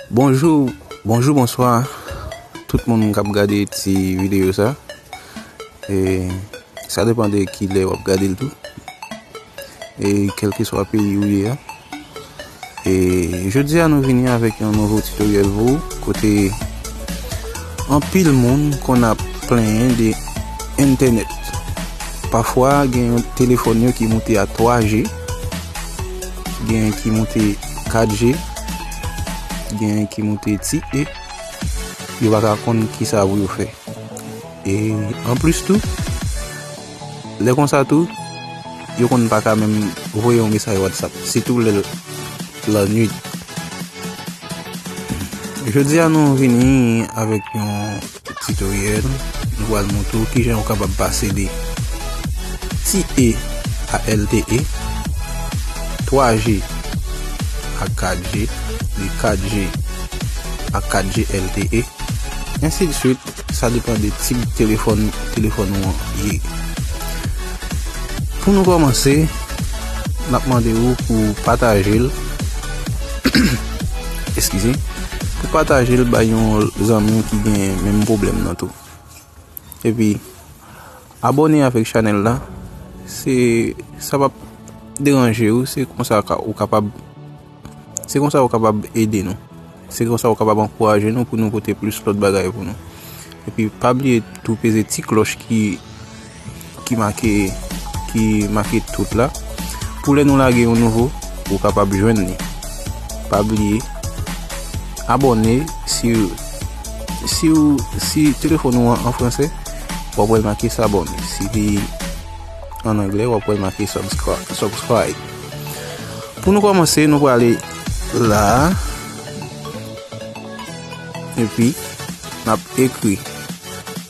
Bonjou Bonjou bonswa tout moun kap gade ti video sa e sa depan de kilè wap gade l tou e kelkeswa peyi ou ye a e jodi a nou vini avèk yon nouvo tutoriel pou ou kote anpil moun konn ap plenyen de entenet pafwa gen yon telefòn yo ki moute a 3 je Gen ki moute 4 je. Gen ki moute ti e. Yo pa ka konn ki sa pou yo fè. E an plis tou. Lè kon sa tou. Yo konn pa ka menm voye yon mesaj WhatsApp. Si tou lè la nwit. Jodi a nou vini avèk yon. Titoryèl, Nou pral montre w kijan ou kapab pase de ti e a lte, 3 je a 4 je, de 4 je a 4 je lte, ensi de swit, sa depan de tip telefòn telefòn ou an ye. Pou nou kòmanse, n ap mande ou pou w pataje l, eskize. Pou pataje l bay yon zanmi w ki gen menm pwoblèm nan tou. Epi abone avèk chanèl la se sa pap deranje w se konsa ou kapab se konsa ou kapab ede nou. Se konsa ou kapab ankouraje nou pou nou pote plis lòt bagay pou nou. Epi pa bliye tou peze ti klòch ki. ki make ki make tout la pou lè nou lage yon nouvo ou kapab jwenn ni pa bliye abone si si ou si telefon ou an franse wap wèl make sa bon si li an angle wap wèl make subscribe pou nou komanse nou wale la epi nap ekri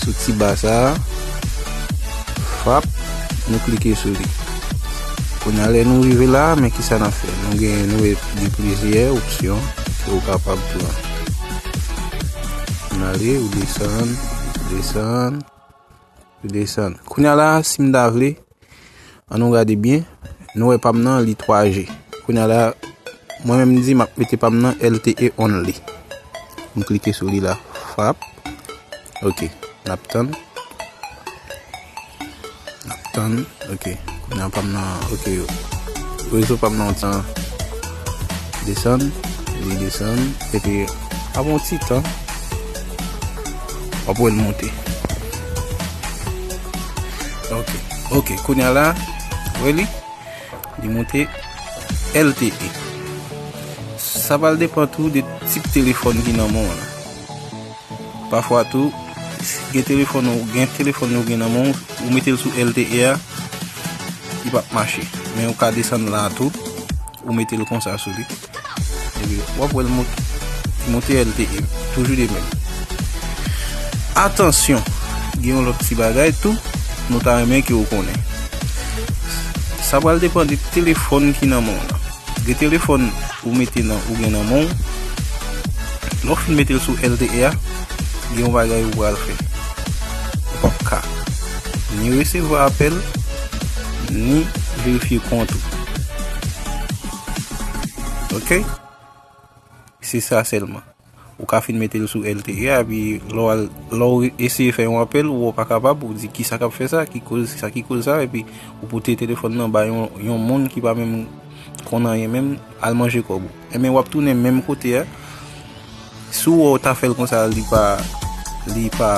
Sou ti ba sa a, frap, nou klike sou li. Kounye a lè nou rive la a, men ki sa n ap fè. Nou gen nou e gen plizyè opsyon ke ou kapab pran. N ale, ou desann, desann, desann. Kounye a la a, si m ta vle, An nou gade byen, nou wè pam nan li 3G. Kounya la, mwen menm di map mete pam nan LTE only. M klike sou li la. Frap. Ok. Nap tann. Nap tann. Ok. Kounya pam nan. Ok. Rezo pam nan ti. Desann. Li desann. E pi. Avon ti tan. Wap wè l monte. Ok ok kounya la wè li li moute LTE sa pral depan tou de tip telefòn ki nan menw la pafwa tou gen telefòn ou gen telefòn ou gen nan menw ou metel sou LTE a li pap mache men ou ka desann la tou ou metel konsa sou li. Wap wèl monte elte e toujou de menm. Atansyon, gen yon lòt ti bagay tou nou ta renmen ke ou konnen. Sa pral depan de telefòn ki nan menw la. Gen telefòn ou mete nan ou gen nan menw. Lè ou fin metel sou elte a, gen yon bagay ou pral fè. Ou pap ka ni resevwa apèl, ni verifye kont ou. Ok Se sa selman Ou ka fin mete l sou LTE a epi lè w eseye fè yon apèl ou pa kapab ou di kisa kap fè sa ki koz sa ki koz sa epi ou pote telefòn nan bay yon moun ki pa menm konn anyen menm al manje kòb ou. Enben wap tounen menm kote a. Si w wè w ta fè l konsa li pa li pa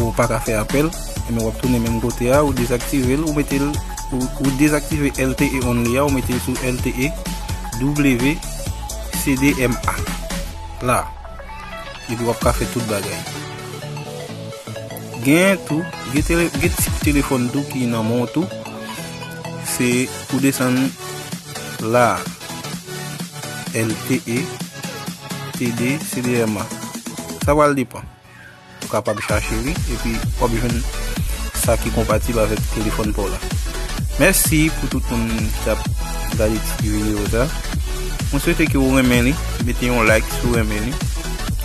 ou pa ka fè apèl ebyen w ap tounen menm kote a ou dezaktive l ou mete l ou dezaktive lte only a ou mete l sou lte wcdma la epi w ap ka fè tout bagay gen tou gen ti telefòn tou ki nan men w tou Se pou desann la a. LTE, TD, CDMA. Sa pral depan. Ou kapab chache li epi wap jwenn sa ki konpatib avèk telefòn pa w la. Mèsi pou tout moun ki ap gade ti videyo sa. Mwen swete ke ou renmen li. Mete yon like si w renmen li.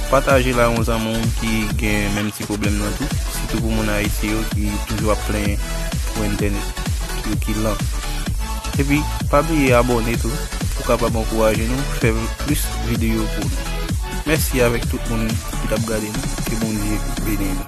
Pataje l a yon zanmi w ki gen menm Pwoblèm nan tou, sitou pou moun Ayiti yo ki toujou ap plenyen pou entènèt yo ki lan. Epi pa bliye abòne tou pou kapab ankouraje nou fè plis videyo pou nou. Mèsi avèk tout moun ki t ap gade nou, ke Bondye beni nou.